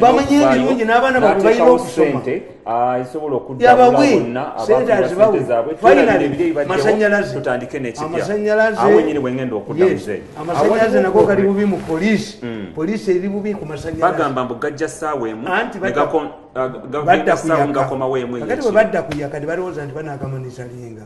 bamanye ebirungi n'abaana babwe balina okusoma ah, yabawe sente azibawe fainali masanyalaze amasanyalaze nago gali bubi mu polisi hmm. polisi eri bubi ku masanyalazeanti ah, bwe badda kuyaka tebalowooza nti banakamunisalinga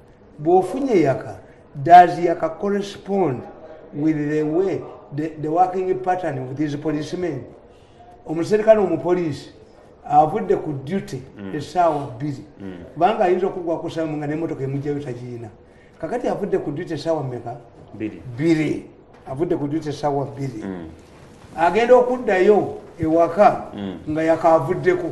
bwofunye yaka does yaka correspond with the way the, the working pattern of these policemen omuserikale omupoliisi avudde ku duty mm. esaawa bbiri mm. kubanga ayinza okugwa kusamu nga nemotoka emugjayo tagiyina kakati avudde ku duty esaawa meka bbiri avudde ku duty esaawa bbiri mm. agenda okuddayo ewaka nga yakavuddeko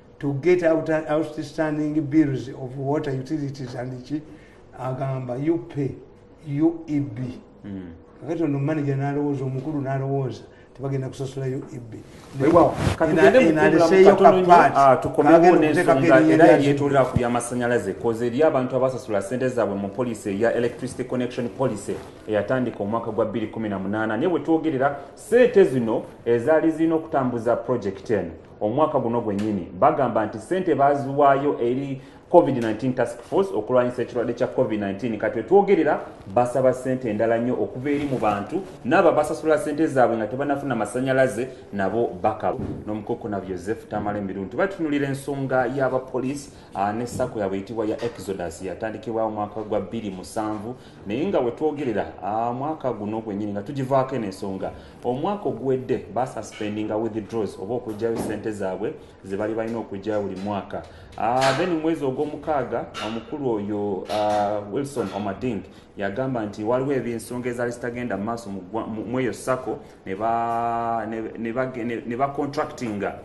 to get out outstanding bills of water utilities and ki agamba you pay ueb mm. kakati ono manager nalowooza omukulu nalowooza tebagenda kusasula ueb tukomewonesoaera ku byamasanyalaze koze eri abantu abasasula sente zaabwe mu policy eya electricity connection policy eyatandika omwaka gwa 218 naye bwetwogerera sente zino ezaali zirina okutambuza project eno omwaka guno gwennyini bagamba nti ssente baaziwaayo eri covid-19 task force okulwanyisa ekirwadde kya covid-19 kati wetwogerera basaba ssente endala nnyo okuva eri mu bantu naabo abasasula ssente zaabwe nga tebanafuna masanyalaze nabo bakaba nomukokona yoseph tamala emiru nti batunulira ensonga y'abapoliisi ah, ne sako yabwe eyitibwa ya exodus yatandikibwawo omwaka gwa 27 naye nga wetwogerera ah, mwaka guno gwenyini nga tugivaako eno ensonga Omwaka oguwedde basuspendinga withdraws oba okugyayo sente zaabwe zebali balina okugyayo buli mwaka ah, then mu mwezi ogw'omukaaga omukulu oyo ah, Wilson Omading yagamba nti waliwo ebyensonga ezaali zitagenda maaso mu eyo sako ne bacontractinga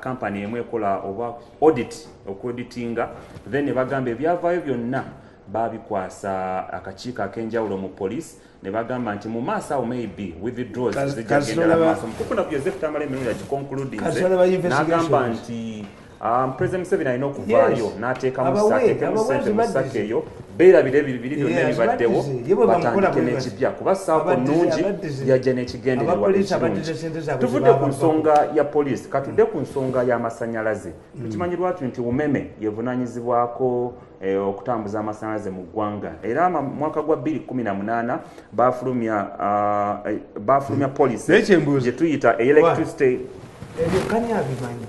kampani ah, emu ekola oba audit okuauditinga then ne bagamba ebyavaayo byonna babikwasa akakiiko ak'enjawulo mu poliisi nebagamba nti mu maaso awo maybe withdraws zijagenda mu maaso kuko na kujeze kutamala emirundi ya conclude nze nagamba nti um, president Museveni alina okuvaayo yes. n'ateekamu ateekamu sente mu saka eyo beerabira ebiri biri byonna ebibaddewo batandike n'ekipya kuba saako nnungi yajja n'ekigendererwa ekirungi tuvudde ku nsonga ya poliisi katudde ku nsonga y'amasannyalaze mm. tukimanyi lwatu nti umeme yevunaanyizibwako E, okutambuza amasanyalaze mu ggwanga era mwaka gwa 218 bafulumya e, bafulumya hmm. policy gyetuyita electricity ebyo kani abimanyi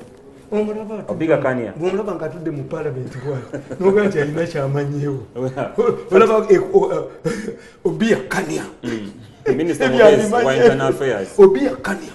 obiga kania bwomulaba nga atudde mu palamenti bwati nogaa nti alina kyamanyiwo obiyakanya mm. obiyakanya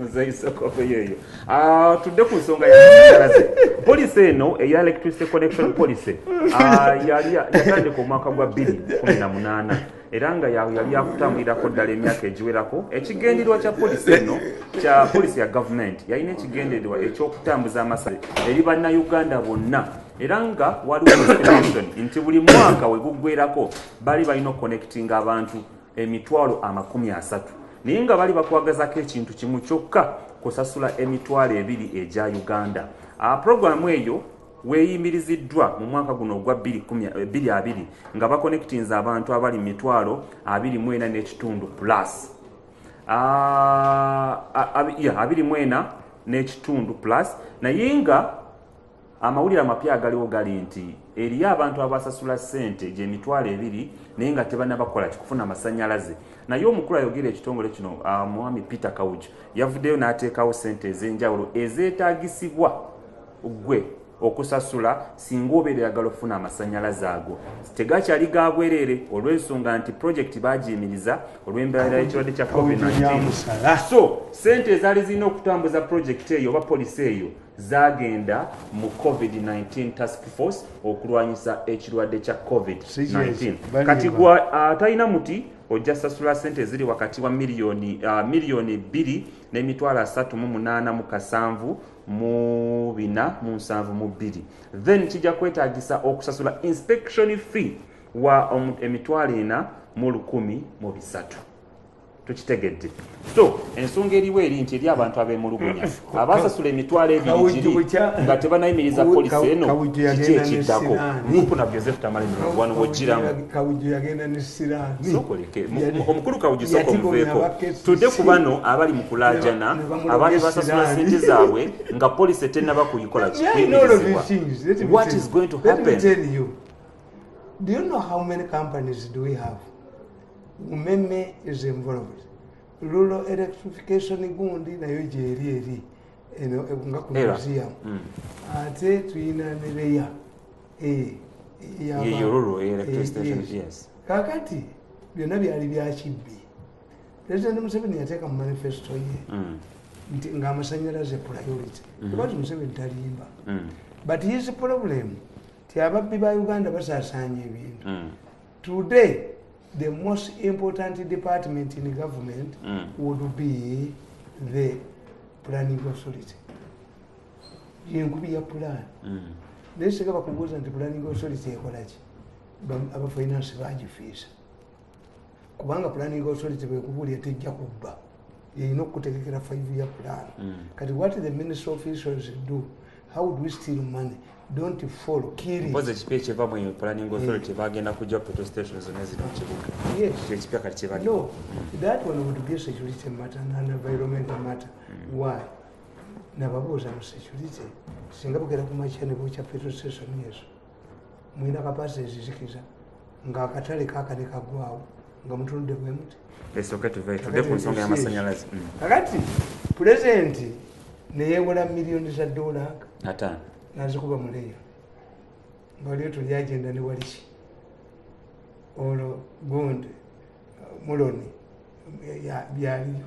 nzeyisokoveyoeyo ah, tudde ku nsonga yamasanyalaze polisi eno eya electricity connection policy ah, yali yatandika omwaka gwa 218 era nga yali yakutambulirako ddala emyaka egiwerako ekigendererwa kya polisi eno kya polisi ya gavumenti yalina ekigendererwa ekyokutambuza amasale eri bannayuganda bonna era nga waliwo estimation nti buli mwaka weguggwerako bali balina okukonectinga abantu emitwalo amakumi asatu naye nga bali bakwagazako ekintu kimu kyokka kusasula emitwalo ebiri egya uganda ah, programu eyo weyimiriziddwa mu mwaka guno ogwa 22 eh, nga bakonectinze abantu abali mu mitwalo 24 n'ekitundu plus ah, ah, abiri mwena n'ekitundu plus naye nga Amawulire amapya agaliwo gali nti eriyo abantu abasasula ssente gy'emitwalo ebiri naye nga tebanabakola kikufuna amasanyalaze naye omukulu ayogera ekitongole kino ah, mwami Peter Kawuju yavuddeyo n'ateekawo ssente ez'enjawulo ezeetaagisibwa gwe okusasula singa obeera oyagala okufuna amasanyalaze ago tegakyali ga bwereere olw'ensonga nti pulojekiti baagiyimiriza olw'embeera y'ekirwadde kya covid-19 so ssente ezaali zirina okutambuza pulojekiti eyo oba polisi eyo zaagenda mu covid 19 task force okulwanyisa ekirwadde kya covid 19 kati gwa atalina uh, muti ojja sasula sente eziri wakati wa miliyoni uh, miliyoni bbiri n'emitwalo asatu mu munaana mu kasanvu mu bina mu nsanvu mu bbiri then kijja kwetagisa okusasula inspection fee wa emitwalo ena mu lukumi mu bisatu tukitegedde so ensonga eriwo eri nti eri abantu abemulugunya abasasula emitwalo ebirigiri nga tebanayimiriza polisi eno kiki ekiddako mukuna joseph tamalinwano wojiramu omukulu kawuju soko muveeko tudde ku bano abali mu kulajana abali basasula sente zaabwe nga polisi etennaba kuyikola kiyimirizibwa what is going to happen Do you know how many companies do we have? umeme is involved rural electrification gundi nayo gyeri eri eno eh, nga ku museum mm. ate tuyina nereya eh, eh, kakati byonna byali byakibbi president museveni yateeka mu manifesto ye mm. nti ngaamasanyalaze priority mm-hmm. kubati museveni talimba mm. but his problem ti ababbi ba uganda basasaanya ebintu Today, the most important department in government mm. would be the planning authority. Yenkubi ya plan. Mm. Naye sika bakubuza nti planning authority ekola ki? Aba finance baji fisa. Kubanga planning authority bekubulia tejja kubba. yeyina okutegekera five year plan mm. kati what the ministry officials do how would we steal money don't follow kiripozi ekipi ekiva mu planning authority bagenda kujja protestation zonna ziri mukibuga ekipya kati kibali no that one would be security matter and environmental matter mm. why nababuuza mu security singa bugera ku makya ne bukya petrol station yesu mulina kapasite ezizikiza ng'akatale kakane kagwawo nga mutunudde bwe muti esooke tuve tude ku nsonga y'amasannyalaze mm. kakati pulezidenti neyewola miliyoni za dola ataano nazikuba muleya nga waliyo tuli agenda ne waliki olwo gundi muloni byaliyo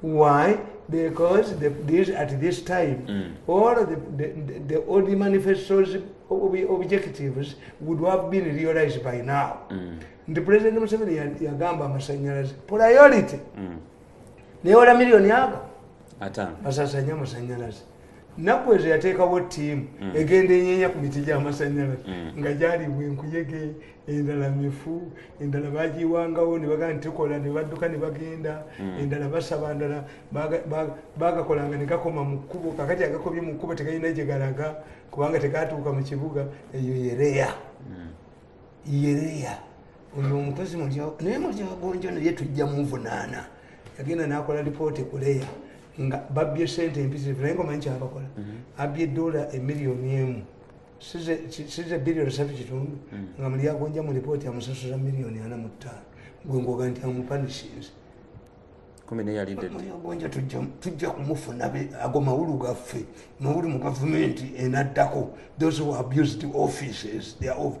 Why? Because the, this, at this time, mm. all the, the, the, the old manifestos ob objectives would have been realized by now. Mm. The President Museveni yagamba amasanyalaze priority mm. newola million yaga basasanya amasanyalaze naku ezo yateekawo ttiimu mm. egenda enyenya ku miti gy'amasanyalaze mm. nga gyalibwa enkuyege endala mifu endala bagiwangawo nebagaa ntikola nebadduka nebagenda hmm. endala basaba ndala bagakolanga negakoma mu kkubo kakati agakobye mu kkubo tegalina gyegalaga kubanga tegatuuka mu kibuga eyo yereya hmm. yereya oyo omukozi naye mulyagonjo naye tujja muvunaana yagenda nakola lipooti kuleya nga babbye sente empisivu naye ngaomanyi kyabakola hmm. abbye dola emiliyoni emu size billion satu kitundu hmm. nga muli yagonja mu lipooti amusasuza miliyoni ana mu ttaano gwe ngoga nti amupanishinze gonja tujja kumufuna ago mawulu gaffe mawulu mu gavumenti enaddako those who abused offices their office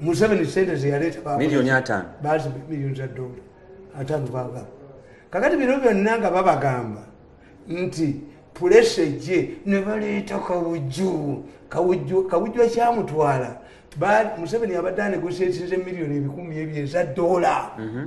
museveni sente zeyaleeta milioni atano bazi milioni za dola atano bagamba kakati bino byonna nga babagamba nti pulesa ejje ne baleeta kawujju kawujju kawujju akyamutwala museveni abadde anegosietinze milioni ebikumi ebyo eza dola mhm.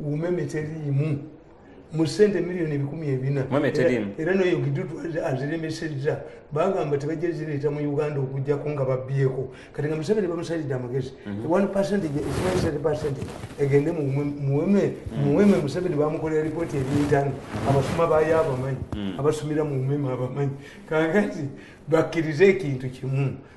umeme teriimu mu sente miliyoni ebikumi ebina era noyo gidudu aziremesezza bagamba tebajja zireeta mu uganda okujjako nga babbyeko kati nga museveni bamusalidde amagezi mhm. one percentage ekimaisate percentage egende muweme mhm. muweme museveni bamukolera lipooti ebintano mhm. abasoma bayo abamanyi abasomera mu umeme abamanyi kakati bakkirize ekintu kimu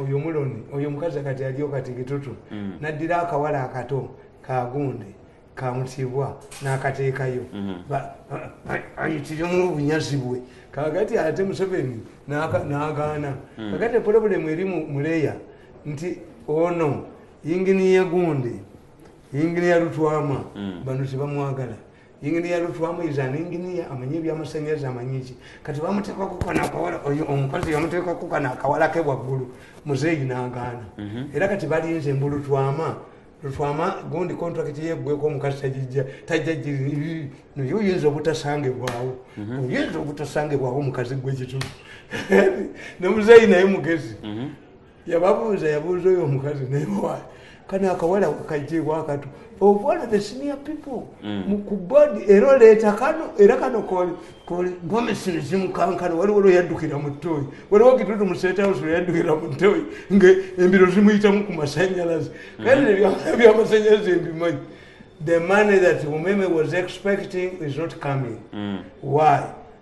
oyo muloni oyo omukazi kati aliyo kati kitutu mm. naddira akawala akato kagunde kamutibwa nakateekayo mm. ayitirimu obunyazi bwe kakati ate museveni nagaana mm. kakati pulobulemu eri muleya nti ono yinginiya gunde yinginiya lutwama bano tebamwagala Engineer Lutwamu is an engineer amanyi ebyamasanyalaze amanyi ki kati bamuteeka kukana akawala oyo omukazi yamuteeka kukana akawala ke waggulu muzeeyi n'agaana mhm. era kati balinze mbu Lutwama Lutwama gundi contract yeggweko omukazi tagijja tajja giri naye oyinza obutasangibwawo mhm. oyinza obutasangibwawo omukazi gwe kitu ne muzeeyi naye mugezi mhm. yababuuza yabuuza oyo omukazi naye wali kano akawala kajjeewo akatu obuwala the senior people mm. ku board era oleeta kano era kano gomisini zimukankana waliwo lweyaddukira mu ttooyi waliwo kitutu mu state house lweyaddukira mu ttooyi nga embiro zimuyitamu ku masanyalaze mm-hmm. kale ebyawala byamasanyalaze mbimanyi the money that umeme was expecting is not coming mm. why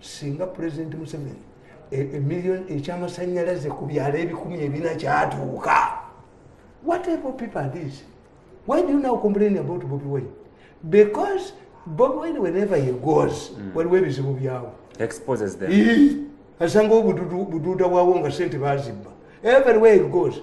singa pulezidenti museveni emiliyoni e, ekyamasanyalaze ku byalo ebikumi ebina kyatuuka whatever people are this why do you now complain about bobi wine because bobi wine whenever he goes mm. waliwo ebizibu byawo exposes them asanga obududa bwawo nga sente bazibba everywhere he goes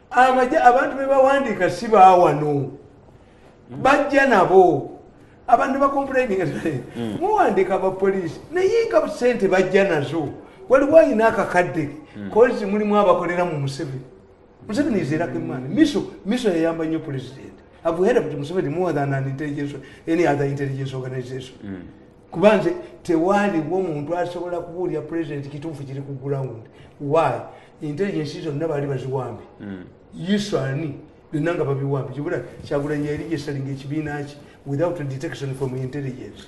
amaja abantu bebawandiika si bawano bajja nabo abantu bakomplaininga hmm. muwandiika abapoliisi naye nga sente bajja nazo waliwo ayina akakadde hmm. kozi mulimu abakolera mu museveni museveni izerako emaani miso miso yayamba nnyo pulezidenti avuhera kuti museveni more than an intelligence any other intelligence organization mm. kuba nze tewaaliwo muntu asobola kubuulira president kituufu kiri ku ground why intelligence zonna baali baziwambe hmm. yesu ani byonna nga babiwambe kibula kyagulanyi yali yesalinga ekibiina ki without detection from intelligence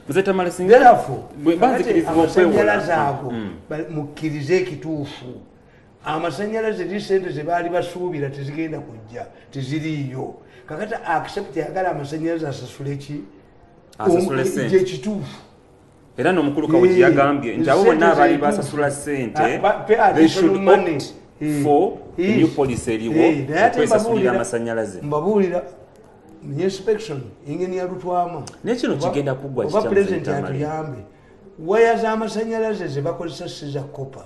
amasanyalaze ago hmm. mukkirize ekituufu amasanyalaze eri sente zebaali basuubira tezigenda kujja teziriiyo kakati accept yagala amasanyalaze asasule ki gyekituufu era nomukulu kawuki yagambye nti abo bonna abaali basasula sente kwesasulira amasanyalaze mbabuulira inspection engeni yalutwamu naye kino kigenda kuggwa kikyamu waya z'amasanyalaze zebakozesa siza kopa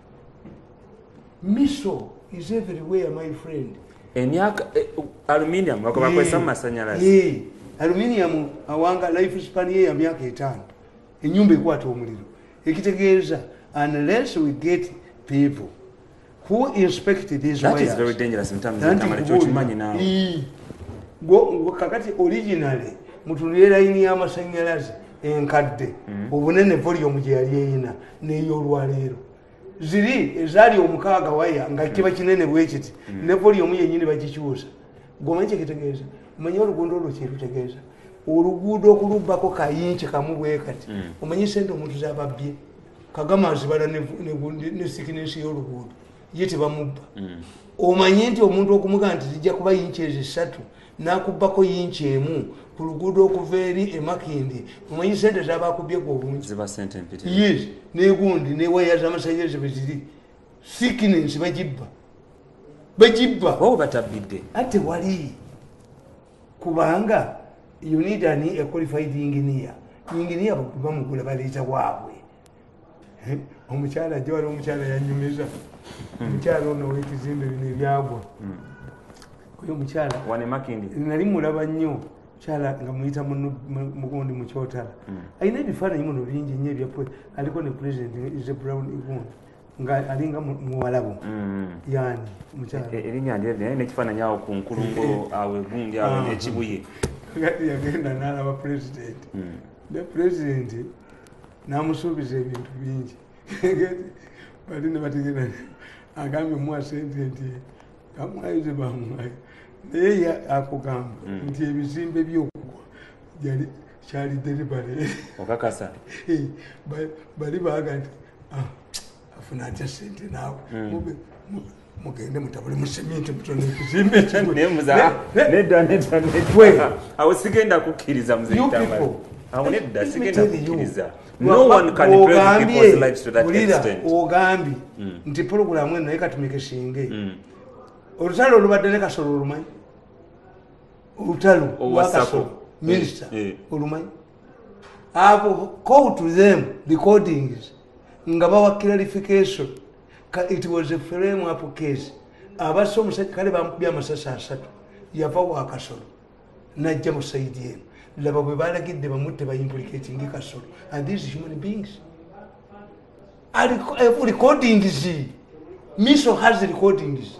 miso is everywhere my friend emyaka eh, aluminium bakobakozesa mu eh, masanyalazi eh, aluminium awanga life span ye ya myaka etaano enyumba ekwata omuliro ekitegeeza unless we get people who inspect these that is very dangerous mtamkyokimanyi nawe kakati originally mutunire layini y'amasanyalazi enkadde mm-hmm. obunene volume gyeyali eyina neyolwaleero ziri ezaali omukaaga waya nga kiba mm. kinene bwekiti mm. ne volyomu yenyini bagikyusa gomanyi kyekitegeeza omanyi olugundo olwo kyerutegeeza oluguudo okulubbako kayinki kamu bwekati mm. omanyi sente omuntu zababbye kagama azibala ne sikinensi yoluguudo ye tebamubba mm. omanye nti omuntu okumuga nti zijja kuba yinki ezo esatu nakubbako yinki emu ku luguudo okuva eri emakindi omanyi sente zabakubyeko obungi yes negundi newaya zamasanyalaze bweziri sikinensi bagibba bagibba obatabidde ate wali kubanga you need an a qualified engineer engineer bamugula baleeta waabwe eh, omukyala ajja wali omukyala yanyumiza hmm. omukyala ono wekizimbe bino ebyagwa hmm. oyo omukyala nali mulaba nnyo kyala nga muyita mugundi mukyotala hmm. alina ebifaananyi muno bingi nyo ebya aliko ne president ise brown gundi nga alinga muwalabu mm. yani mukyala e, e, erinya ndye naye nekifaananyi awo ku nkulungo awo egundi awo ah. nekibuye yagenda nalaba president mm. ne president namusuubiza ebintu bingi bali nebategera agambye muwa sente nti kamwayize bamwayi naye akugamba hmm. nti ebizimbe byokugwa yali kyali deribale okakasa eh, bali baga nti ah, afuna atya sente naawe hmm. mugende mutabule museminte mutone ekizimbe ekigweawo sigenda kukkiriza ogambye hmm. nti pulogulamu eno naye katumike singe hmm. olutalo olubadde ne kasolo olumanyi olutalo lwakasolo minisita eh, eh. olumanyi abo go to them recordings nga bawa clarification it was a frame up case abasa omusajja kale bamukubya amasasi asatu yava wakasolo najja mu saidi eno laba bwe balagidde bamutte baimplicatingi kasolo and these human beings eh, recordings miso has recordings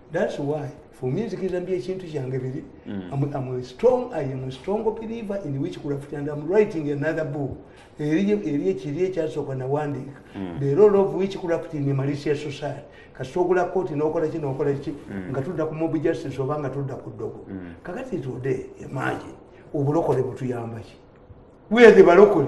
That's why for me nzikiriza mbi ekintu kyange biri mm. I'm, I'm a strong, I am a strong believer in witchcraft and I'm writing another book eri ekiri ekyasooka nawandiika mm. the role of witchcraft in Malaysia society kasita ogula kooti nokola ki nokola ki mm. nga tudda ku mob justice oba nga tudda ku ddogo kakati today imagine obulokole butuyambaki where the balokole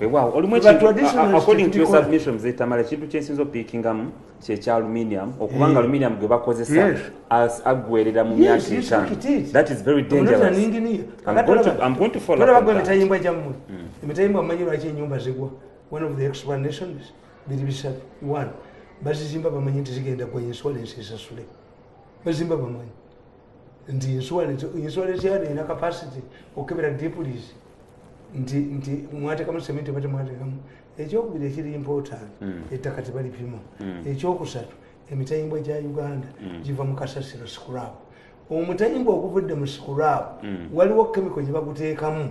weewaawo olumu ekintuaccordingtosurbmission zetamala ekintu kyensinza opikingamu kyekya aluminium okuba nga eh. aluminium gwe bakozesa aggwerera mu myaka etaanoemitayimbwa gyammwe hmm. emitayimbwa amanyi lwaki enyumba zigwa one of the explanations biri bisatu one bazizimba bamanyi nti zigenda gwa insurance esasule bazimba bamanyi nti insurance yano erina capacity okukebera depulis nti nti mwatekamu sementi oba temwatekamu ekyokubiri ekiri important hmm. ettaka tebalipima hmm. ekyokusatu emitayimbwa gya uganda hmm. giva mu kasasiro sikurabu omutayimbwa oguvudde mu sikurabu waliwo kemiko gye baguteekamu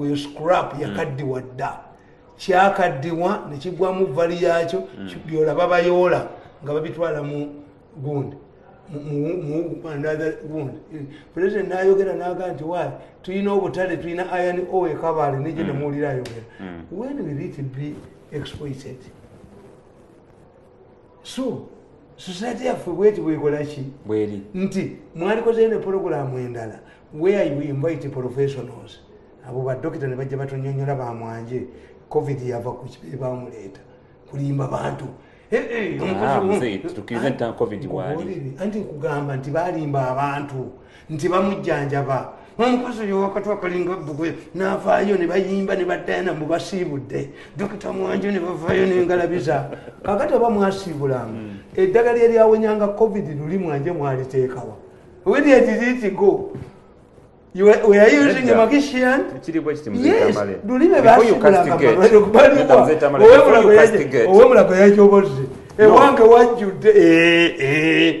oyo scrap mm. yakaddiwa dda kyakaddiwa nekigwamu vali yakyo mm. byolaba bayoola nga babitwala mu gundi mugundi president nayogera naga nti wa tulina obutale tulina iron o ekabaale neje nemuwulira ayogera when will it be exploited so society yaffe bweti bwekolaki bweri nti mwalikozeyo ne pologulaamu endala where you invite professionals abo badokita ne bajja batonyonyola bamwanje covid yava ku kibiri bamuleeta kulimba bantu eh, eh, ah, anti nkugamba nti balimba abantu nti bamujjanjaba omukozi oyo wakati wakalinga bbugwe n'avaayo ne bayimba ne baddayana mu basiibudde dokita mwanjo ne bavaayo n'engalabiza kakati oba mwasiibulanga hmm. eddagala eryawonyanga covid luli mwanje mwaliteekawa wediediditigo owemulago yakyobozze ewange wajjudde eh, eh.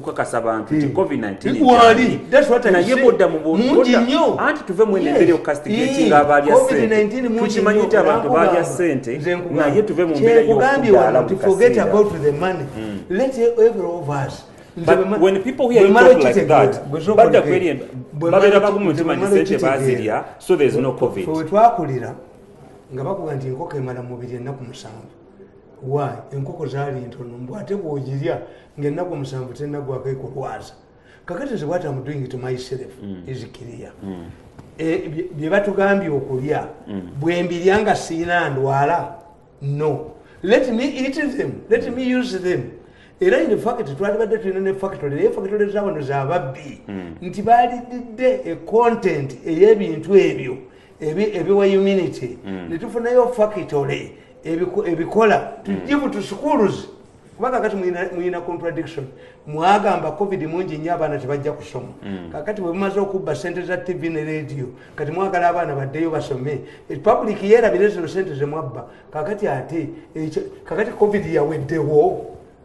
kukakasa bantu nti hmm. covid 19naye bodda muanti tuve muenembere okukasitigekinga abalya sentetukimanyi nti abantu balya sente naye tuve mu mbeera yokudaalababeera bagumu ntimanyi sente bazirya so there's no covid wetwakulira nga bakuga nti enkoko emala mubiri ennaku musanvu why enkoko zaali ntono mbu ate bwogirya ngaennaku omusanvu tenagwako ekulwaza kakati nze bwati amudoing to myself mm. is clear mm. e, byebatugambye okulya mm. bwembirya nga siina ndwala no let me eat them let me use them era in fact twalibadde tulina ne factory naye factory zawano zababbi nti balididde e content eyebintu ebyo ebiwa humanity netufunayo factory ebikola tujibu to schools kuba kakati muyina contradiction mwagamba covid mungi nyo abaana tebajja kusoma mm. kakati bwemumaze okubba sente za tv ne radio kati mwagala abaana baddeyo basome e, public yerabire zino sente zemwabba kakati ate kakati covid yaweddewo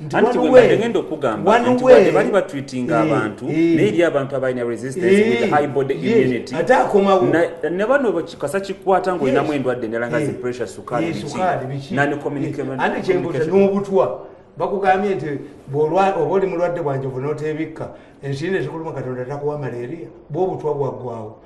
ntigenda okugamba nti wadde bali batreatinga eh, abantu eh. naye eri abantu abalina resistance with eh. high body immunity ne bano kasa kikwata ngaolinamu endwadde endala nga zipressure sukaali biki nani communicationobutwa bakugambye nti oba oli mulwadde bwanjovu notebikka ensiri nezikuluma katonda takuwa malaria bwobutwa bwaggwawo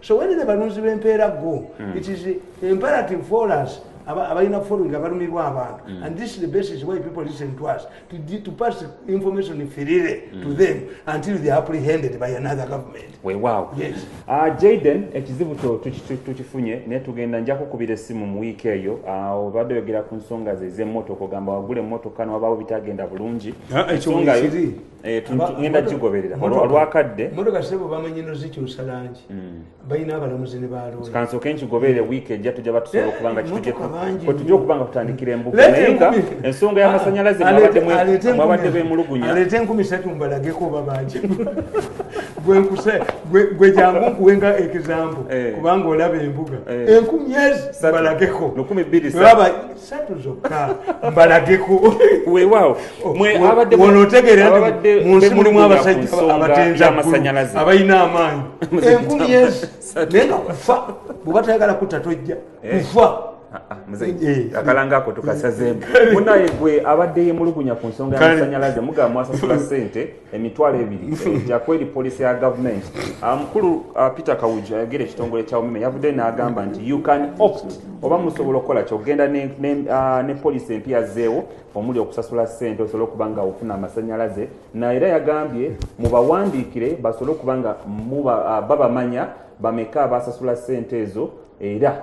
so wene ne balunzi b'empeera go hmm. it is imperative for us abalina following abalumibwa abantu hmm. and this is the basis why people listen to us to, to pass information firire mm. to hmm. them until they are apprehended by another government wewaw yes. uh, jaden ekizibu tukifunye naye tugenda nja kukubira essimu mu wiiki eyo ah, obadde oyogera ku nsonga ze z'emmotoka ogamba wagula emmotoka nowabawo bitagenda bulungi ah, ekyo Eh, ngenda gigoberera olwakadde motoka sebo bamanyi no zikyusa langi hmm. balina abalamuzi ne baalooyakansoke nkigoberere wiiki ejja tujja batusobola eh, okubanga kitujja okubanga kutandikira embuga naye nga ensonga y'amasanyalaze mwabadde bemulugunya aleete enkumi satu mbalageko oba bangi gwe jangu nkuwenga ekizambo eh. kubanga olaba embuga enkumi ezi mbalageko satu zokka mbalageko weewaawo mweonotegeera nti mu nsi mulimu abasajja abatenza amasanyalaze abalina amaanyi enkumi yezi naye nga kufa bwe batayagala kutta tojja eh. kufa ah, ah, eh, eh. akalanga ako tukasazeemu munaye gwe abadde yemulugunya ku nsonga yamasanyalaze mugamba mwasasula sente emitwalo ebiri egya kweri poliisi ya gavumenti ah, mukulu ah, peter kawuju ayogera ekitongole kya umeme yavudde n'agamba nti you can opt oba musobola okukola kyogenda ne ah, poliisi empya zeewo omuli okusasula sente osobole okuba nga ofuna amasanyalaze naera yagambye mubawandiikire basobole okuba nga babamanya bameka abasasula sente ezo era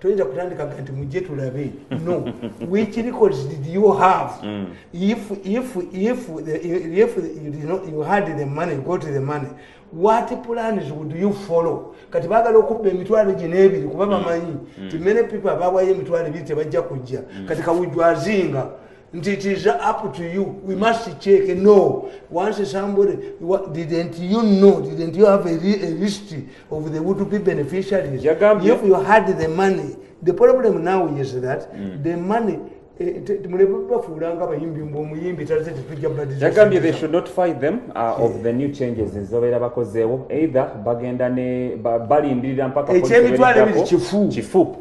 toyinza kutandika ga nti mujje tulabe no which records did you have mm. if, if, if, the, if you, did not, you had the money go to the money what plans would you follow kati bagala okubba emitwalo gye n'ebiri kuba mm. bamanyi mm. ti many people abawayo emitwalo ebiri tebajja kujja mm. kati kawujwazinga nti it is up to you we must check no once somebody didn't you know didn't you have a, a list of the would be beneficiaries if you had the money the problem now is that mm. the money eh, mulebafuulanga abayimbi mbu omuyimbi taze tetujja badiagambye they should notify them uh, of the new changes ezibabeera bakozeewo either bagenda ne balindirira mpaka ekyemitwalo ebiri kifu kifu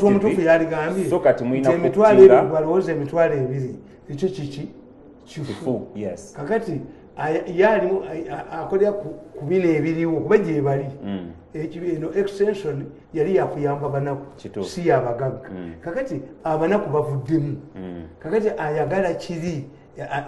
omutuufuyaligambyeemitwaloebwalowooza emitwalo ebiri ekyo kiki kifu kakati ye alimu akolera ku bino ebiriwo kuba gyebali mm. eno extension yali yakuyamba banaku si yabagagga mm. kakati abanaku bavuddemu mm. kakati ayagala kiri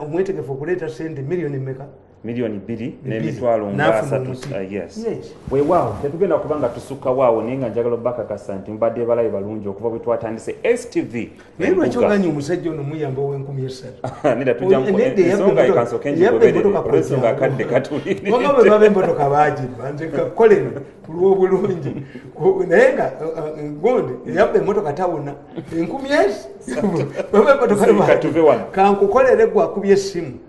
omwetegefu okuleeta sente miliyoni meka miliyoni bbiri n'emitwalo ngaasatu uh, weewaawo tetugenda kuba nga tusukkawo awo naye nga njagala obakakasa nti mubadde balabe balungi okuva bwe twatandise stv naye lwaki oganya omusajja ono muyamba ow'enkumi esatu neda tujjaensonga ekansoke njigobereolwensonga akadde katuliwama bwe baba emmotoka baagibba nze kakoleno ku lw'obulungi naye nga uh, uh, gonde eyabba emmotoka tawona enkumi esi baba emmotoka kankukolere gwe akubye essimu